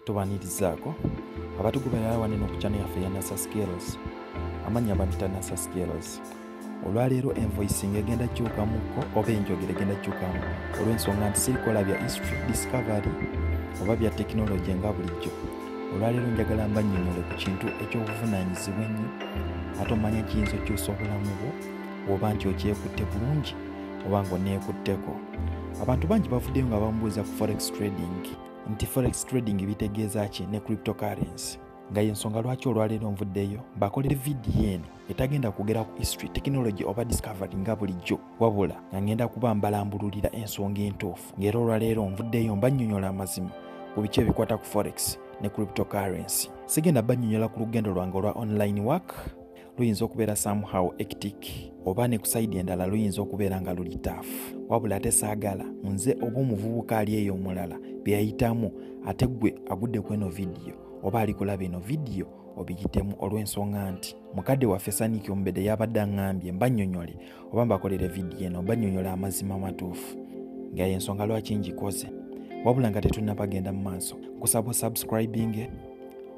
tubanirizaako abatugoberera wane no ku channel yaffe ya nasa skills amannya bampita nasa skills olwaleero envoicing egenda kyukamuko oba enjogera egenda kyukamu olw'ensonga nti sirikola bya history discovery oba bya tekinologi nga bulijjo olwaleero njagala mbanyonyole ku kintu eky'obuvunanyizibwa ennyo ate omanya kiyinza okyusa obulamu bwo oba nti okyekutte bulungi oba nga oneekutteko abantu bangi bavuddeyo nga bamubuuza ku forex trading nti forex trading bitegeeza ki ne cryptocurrency nga yensonga lwaki olwaleero nvuddeyo bakolere vidiyo eno etagenda kugera ku history technology oba discovery nga bulijjo wabula nga ngenda kuba mbalambululira ensonga entuufu ng'era olwaleero nvuddeyo mbanyonyola amazima ku biki ebikwata ku forex ne cryptocurrency sigenda banyonyola ku lugendo lwange olwa online work luyinza okubeera somehow ectic oba ne kusaidi endala luyinza okubeera nga luli taf wabula ate saagala nze oba omuvubuka ali eyo omulala byeyayitamu ate gwe agudde ku eno vidiyo oba ali kulaba eno vidiyo obiyitemu olw'ensonga nti mukadde waffe saniki omubedde yabadde aŋambye mbanyonyole oba mbakolere vidiyo eno mbanyonyole amazima amatuufu nga yensonga lwaki ngikoze wabula nga tetunnabagenda mu maaso kusaba osubscribinge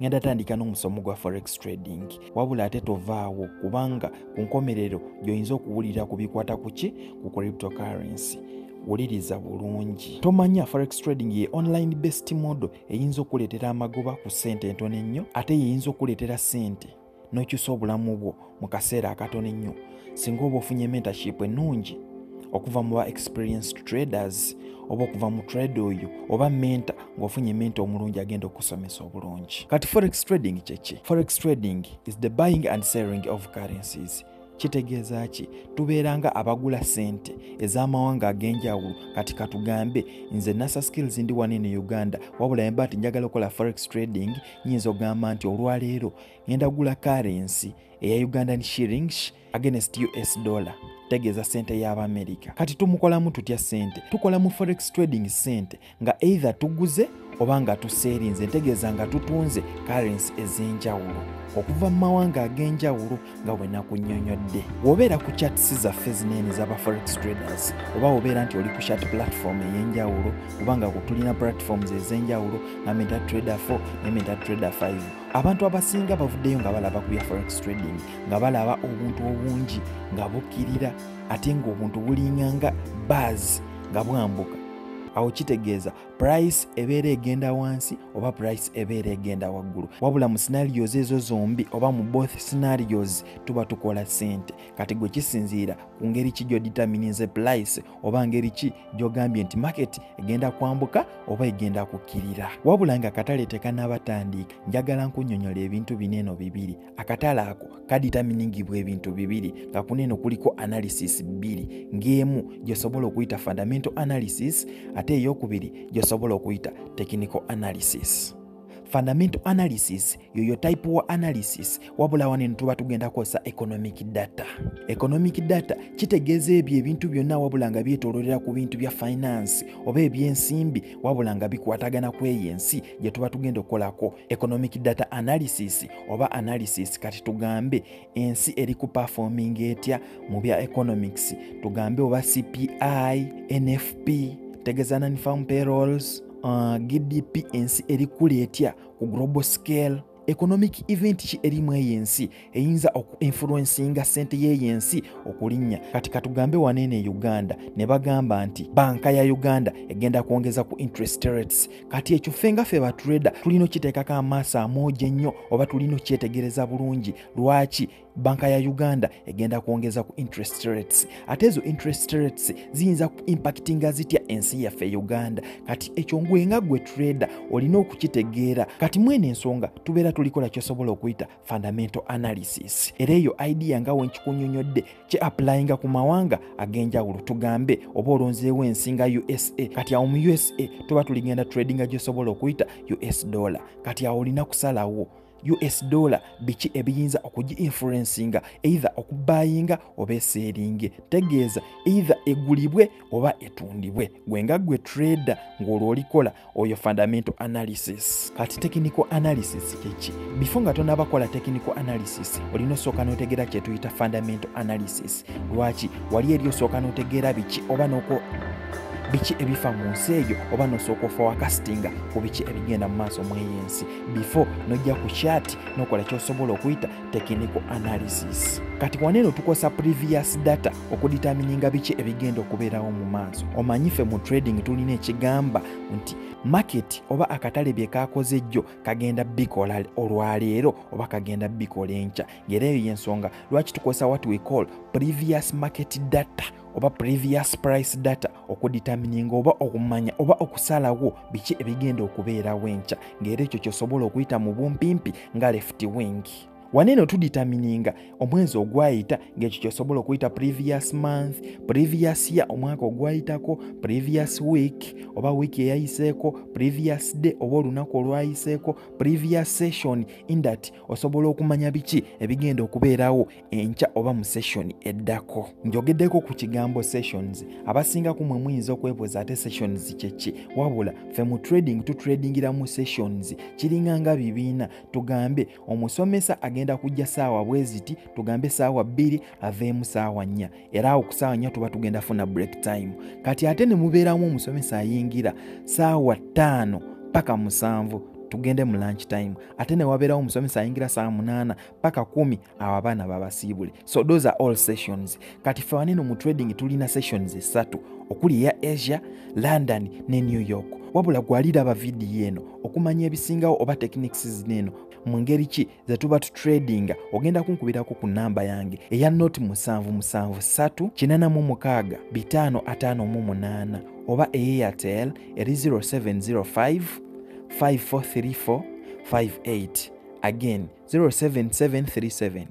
ngenda tandika n'omusomo gwa forex trading wabula ate tovaawo kubanga ku nkomerero gy'oyinza okuwulira ku bikwata ku ki ku cryptocurrency wuliriza bulungi tomanya forex trading ye online best model eyinza okukuleetera amagoba ku ssente entono ennyo ate yeyinza okukuleetera ssente n'okyusa obulamu bwo mu kaseera akatono ennyo singa oba ofunye mentorship ennungi okuva mu ba experienced traders oba okuva mu trade oyo oba menta ng'ofunye menta omulungi agenda okusomesa obulungi kati forex trading kyeki forex trading is the buying and selling of currencies kitegeeza ki tubeera nga abagula sente ez'amawanga ag'enjawulo kati katugambe nze nasa skills ndi wani ne uganda wabula yemba nti njagala okukola forex trading nyinza ogamba nti olwaleero ngenda gula karensi eya ugandan shirings against us dollar tegeeza sente y'abamerika kati tumukolamu tutya sente tukola mu forex trading sente nga either tuguze oba nga tuseerinze ntegeeza nga tutunze currency ez'enjawulo okuva mu mawanga ag'enjawulo nga bwe nakunyonyodde wobeera ku chats zaffe zineene zaba forex traders oba wobeera nti oli ku chat platform ey'enjawulo oba nga kutulina platforms ez'enjawulo nga meta trader 4 ne meta trader 5 abantu abasinga bavuddeyo nga balaba ku bya forex trading nga balaba obuntu obungi nga bukirira ate ng'obuntu bulinganga baazi nga bwambuka awo kitegeeza price ebeera egenda wansi oba price ebeera egenda waggulu wabula mu scenarios ezo zombi oba mu both scenarios tuba tukola sente kati gwe kisinziira ku ngeri ki gyoditamininze price oba ngeri ki gyogambye nti market egenda kwambuka oba egenda kukkirira wabula nga katale tekanabatandiika njagala nkunyonyola ebintu bineeno bibiri akatale ako kaditaminingibwa ebintu bibiri nga kuneeno kuliko analysis bbiri ng'emu gyosobola okuyita fundamental analysis ate eyokubiri gyosobola okuyita technical analysis fundamental analysis yoyo type wa analysis wabula waneno tuba tugenda kukozesa economic data economic data kitegeeza ebyo ebintu byonna wabula nga byetololera ku bintu bya finance oba ebyensimbi wabula nga bikwatagana ku eyo ensi gye tuba tugenda okukolako economic data analysis oba analysis kati tugambe ensi eri ku performing etya mu bya economics tugambe oba cpi nfp tegeza non farm payrolls uh, gdp ensi eri kula etya ku global scale economic event ki erimu eyo ensi eyinza oku influencinga ssente yeeyo ensi okulinnya kati katugambe waneeno e uganda ne bagamba nti banka ya uganda egenda kwongeza ku interest rates kati ekyo ffe nga ffe batureda tulina okiteekako amaaso amoogi ennyo oba tulina okyetegereza bulungi lwaki banka ya uganda egenda kwongeza ku interest rates ate ezo interest rates ziyinza ku impactinga zitya ensi yaffe e uganda kati ekyo ngwenga gwe trade olina okukitegeera kati mwene ensonga tubeera tulikola kyosobola okuyita fundamental analysis era eyo idea nga wenkikunyonyodde kye applyinga ku mawanga ag'enjawulo tugambe oba olonzeewo ensi nga usa kati awo mu usa tuba tuligenda tradinga gyosobola okuyita us dollar kati awo olina kusalawo us dollar biki ebiyinza okugi influencinga either okubayinga oba eseeringe tegeeza either egulibwe oba etundibwe gwe nga gwe trader ng'olwo olikola oyo fundamental analysis kati technical analysis kyeki bifo nga tonaba kola technical analysis olina osooka n'otegeera kyetuyita fundamental analysis lwaki wali eri osooka n'otegeera biki oba noko biki ebifa mu nsi eyo oba nosooka ofa wakasitinga ku biki ebigenda mu maaso mu eyo ensi before nojja ku kyati nokola kyosobola okuyita technical analysis kati waneeno tukosa previous data okuditamininga biki ebigenda okubeerawo mu maaso omanyi ffe mu trading tulina ekigamba nti maketi oba akatale bye kakoze jjo kagenda bikola olwaleero oba kagenda bikola enkya ngaera eyo y'ensonga lwaki tukozesa wat we call previous market data oba previous price data okuditamininga oba okumanya oba okusalawo biki ebigenda okubeerawo enkya ngaera ekyo kyosobola okuyita mu bumpimpi nga left wing waneno tuditamininga omwezi ogwayita ng'ekyo kyosobola okuyita previous month previous year omwaka ogwayitako previous week oba wiiki eyayiseeko previous day oba olunaku olwayiseeko previous session indat osobola okumanya biki ebigenda okubeerawo enkya oba mu session eddako njogeddeko ku kigambo sessions abasinga kumwe muyinza okwebuuza ate sessions kyeki wabula fe mu trading tutradingira mu sessions kiringanga bibiina tugambe omusomesa agenda kujja saawa bweziti tugambe saawa bbiri aveemu saawa nnya era awo ku saawa nnya tuba tugenda funa break time kati ate ne mubeeramu omusomesa ayingira saawa ttaano paka musanvu tugende mu lunch time ate ne wabeerawo omusomesa ayingira saawa munaana paka kumi awo abaana babasiibule so those are all sessions kati ffe waneno mu trading tulina sessions esatu okuli eya asia london ne new york wabula gwaliraba vidiyo eno okumanya ebisingawo oba techniques zino eno mu ngeri ki ze tuba tutradinga ogenda kunkubirako ku namba yange eya noti musanvu musanvu satu kinana mu mukaaga bitaano ataano mu munaana oba eyatel eri 0705 5434 58 again 07737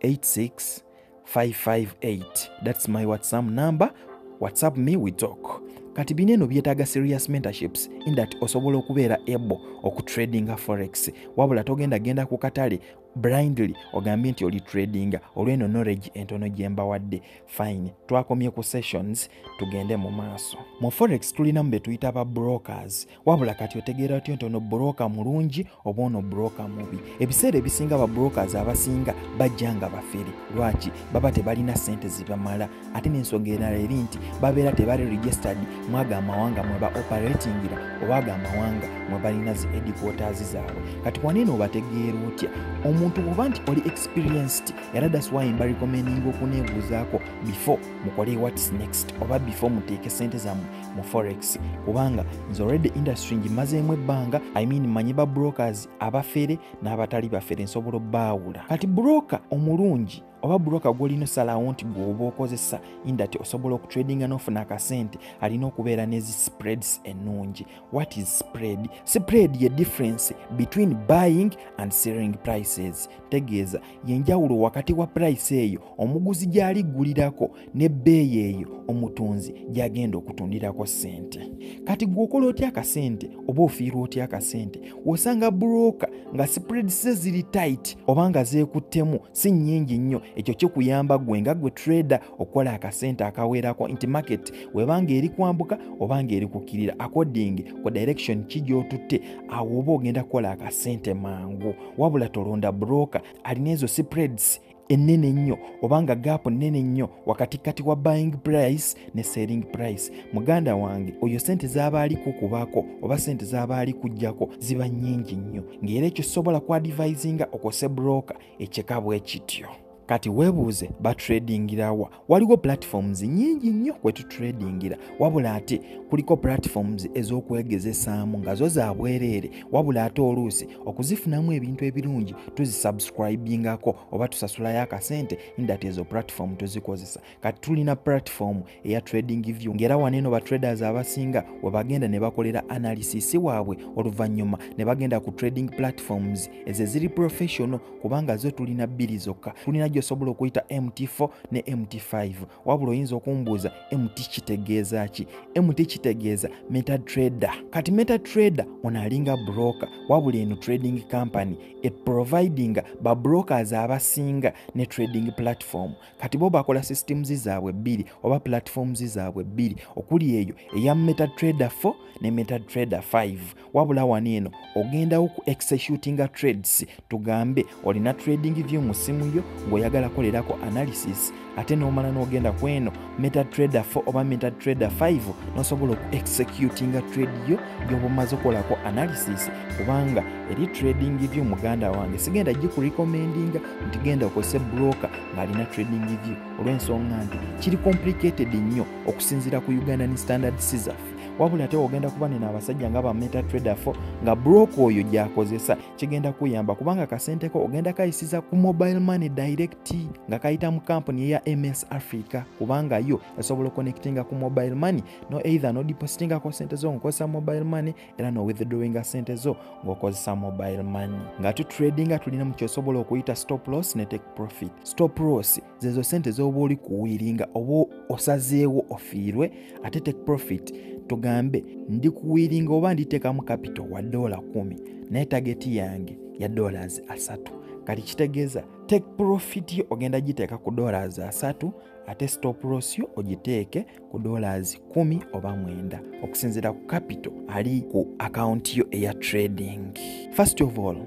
86558 thats my whatsapp number whatsapp me we talk kati bino eno byetaaga serious mentorships in that osobola okubeera able okutradinga forex wabula togenda genda ku katale blindly ogambye nti oli tradinga olweno knowledge entono gyembawadde fine twakomye ku sessions tugende mu maaso mu forex tulinamu betuyita ba brokers wabula kati otegeera otyo nti ono broka mulungi oba ono broka mubi ebiseera ebisinga babrokers abasinga bajja nga bafere lwaki baba tebalina sente zibamala ate n'ensonga erala eri nti babeera tebali registered mwago amawanga mweba operatingira obaago amawanga mwe balina zi ediquoters zaabwe kati wanene obategeera otya omuntu bwoba nti oli experienced era daswayi mba recommending okuneebuuzaako before mukole whats next oba before muteeke sente zammwe mu forex kubanga nze already industry ngimazeemu ebbanga i mean manyi ba brokers abafere n'abatali bafere nsobola obbaawula kati broka omulungi oba broka gwolina osalawo nti gweoba okozesa indati osobola okutradinga n'ofuna akasente alina okubeera nezi spreads ennungi what is spread spread ye difference between buying and selling prices tegeeza yenjawulo wakati wa purayisi eyo omuguzi gy'aliggulirako n'ebbeeyi eyo omutunzi gy'agenda okutundirako ssente kati gw'okola otya akasente oba ofiirwa otya akasente wosanga bulooka nga sipredise ziri tayiti oba nga zeekuttemu si nnyingi nnyo ekyo kikuyamba gwe nga gwe trader okukola akasente akaweerako nti market webanga eri kwambuka oba nga eri kukkirira according ku direction ki gy'otutte awo oba ogenda kukola akasente mangu wabula tolonda broka alina ezo spreads ennene ennyo oba nga gaapu nnene nnyo wakati kati wa buying price ne selling price muganda wange oyo sente z'aba ali kukubako oba sente z'aba ali kujjako ziba nnyingi nnyo ng'era ekyo sobola kwadivisinga okose broka ekyeka bwe kityo kati weebuuze batradingira wa waliwo platforms nyingi nnyo kwe tutradingira wabula ate kuliko platforms ez'okwegezesaamu nga zo za bwereere wabula ate oluusi okuzifunamu ebintu ebirungi tuzisubscribingako oba tusasulayo akasente indati ezo platform tuzikozesa kati tulina platform eya trading view ngera wano eno batraders abasinga webagenda ne bakolera analysis waabwe oluvannyuma ne bagenda ku trading platforms ezo eziri professional kubanga zo tulina bbiri zokka tulina gyosobola okuyita mt4 ne mt5 wabula oyinza okumbuuza mt kitegeeza ki mt kitegeeza meta trader kati meta trader ono alinga broker wabula eno trading company eprovidinga babrokers abasinga ne trading platform kati bo bakola systems zaabwe bbiri oba platforms zaabwe bbiri okuli eyo eya meta trader 4 ne meta trader 5 wabula wano eno ogendawo ku executinga trades tugambe olina trading view mu simu yo ng'oyagala kolerako analysis ate n'omala n'ogenda ku eno meta trader 4 oba meta trader 5 n'osobola oku executinga trade yo gy'obumaze okukolako analysis kubanga eri trading view muganda wange sigenda gikurecommendinga nti genda okozese broka ng'alina trading view olw'ensonga nti kiri complicated nnyo okusinziira ku uganda ni standard sizaffe wabula ate ogenda kuba nina abasajja nga ba meta trader fo nga broka oyo gyakozesa kigenda kuyamba kubanga kasente ko ogenda kayisiza ku mobile money direct nga kayita mu kampuni eya ms africa kubanga yo esobola okonectinga ku mobile money no either nodipositingako sente zo ngakozesa mobile money era no withdrawinga sente zo ng'okozesa mobile money nga tu tradinga tulina mu kyosobola okuyita stop loss ne take profit stop loss zezo sente z'oba oli kuwiiringa oba osazeewo ofiirwe ate take profit tugambe ndi kuwiiringa oba nditeekamu kapito wa doola kumi naye tageti yange ya dollars asatu kati kitegeeza take profit yo ogenda giteeka ku dollars asatu ate stop loss yo ogiteeke ku dollars 1 oba 9 okusinzira ku capital ali ku akawunti yo eya trading first of all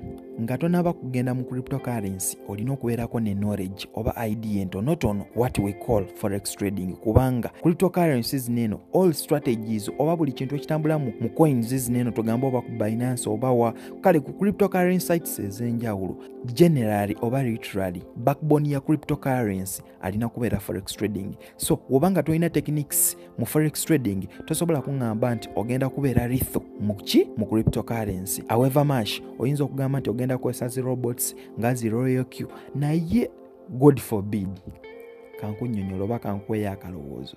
nga tonaba kugenda mu cryptocurrency olina okubeerako ne knowledge oba idea entonotono what we call forex trading kubanga cryptocurrency zineeno all strategies oba buli kintu ekitambula mu coins zineeno togamba oba ku binance oba wa kale ku cryptocurrency sites ezenjawulo generally oba literally backbone ya cryptocurrency alina kubeera forex trading so woba nga tolina techniques mu forex trading tosobola kuŋŋamba nti ogenda kubeera ritho mu ki mu cryptocurrency however mash oyinza okugamba nti ogenda kukozesa zi robots nga zi royal q naye god forbid kankunyonyola oba kankuweyo akalowoozo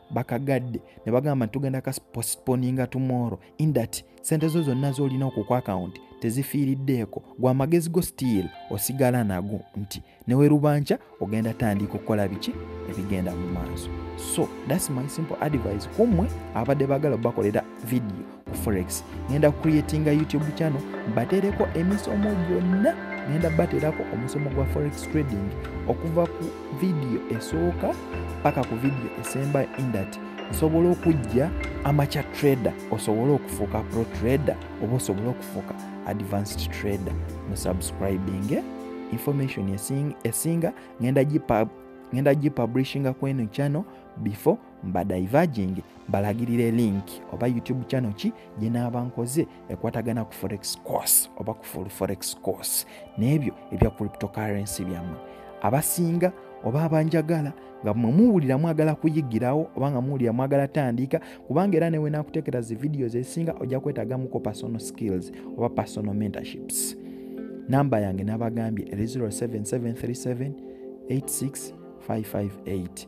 bakagadde ne bagamba nti tugenda ka postponinga tomorrow in that sente zo zonna z'olina oku ku akawunti tezifiiriddeeko gwa amagezi go stiil osigala nago nti newe rubanca ogenda tandika okukola biki ebigenda mu maaso so thats my simple advice kummwe abadde bagala bakolera vidiyo ku forex ngenda creatinga youtube channel batereko emisomo gyonna ngenda baterako omusomo gwa forex trading okuva ku vidiyo esooka paka ku vidiyo esemba indat nsobola okujja amacha trader osobole okufuuka pro trader oba osobole okufuuka advanced trader mu subscribing eh? information esinga ngenda gipublishinga kweno channel before mbadivaging mbalagirire link oba youtube channel ki gyenaaba nkoze ekwatagana ku forex course oba ku full forex course n'ebyo ebya cryptocurrency byammwe abasinga oba abanjagala nga mwe muwulira mwagala kuyigirawo oba nga muwulira mwagala tandiika kubanga era newe nakuteekera zi videos ezisinga ojja kwetagamuko personal skills oba personal mentorships namba yange nabagambye eri 07737 86 558